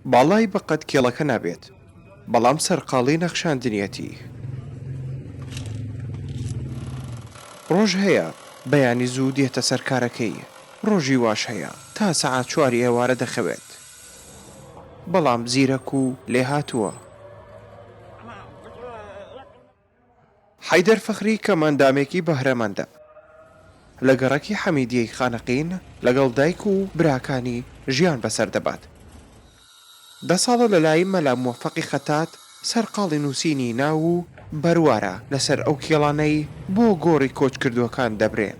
باڵای بەقەد کێڵەکە نابێت بەڵام سەرقاڵی نەخشاندنیەتی. ڕۆژ هەیە بەیانی زوو دێتە سەر کارەکەی ڕۆژی واش هەیە تا سەعات چواری ئێوارە دەخەوێت بەڵام زیرەک و لێهاتووە. حەیدەر فەخری کە مەندامێکی بەهرەمەندە لە گەڕەکی حەمیدیەی خانەقین لەگەڵ دایک و براکانی ژیان بەسەر دەبات دە ساڵە لەلای مەلا موەفەقی خەتات سەرقاڵی نووسینی ناو و بەروارە لەسەر ئەو کێڵانەی بۆ گۆڕی کۆچکردووەکان دەبرێن.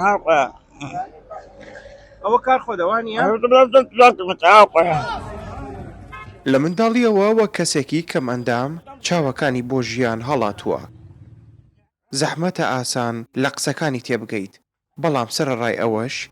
هاوڕا ئەوە کار خۆدەوا نییە؟ لە منداڵییەوە وەک کەسێکی کەمئەندام چاوەکانی بۆ ژیان هەڵاتووە. زەحمەتە ئاسان لە قسەکانی تێبگەیت، بەڵام سەرەڕای ئەوەش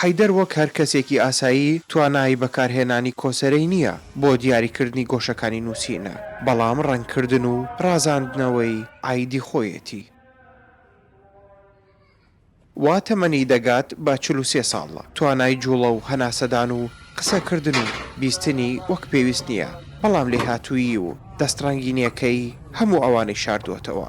حەیدەر وەک هەر کەسێکی ئاسایی توانای بەکارهێنانی کۆسرەی نییە بۆ دیاریکردنی گۆشەکانی نووسینە، بەڵام ڕەنگکردن و ڕازاندنەوەی عایدی خۆیەتی. وا تەمەنی دەگات بە چل و سێ ساڵ، توانای جووڵە و هەناسەدان و قسەکردن و بیستنی وەک پێویست نییە، بەڵام لێهاتوویی و دەستڕەنگینییەکەی هەموو ئەوانەی شاردووەتەوە.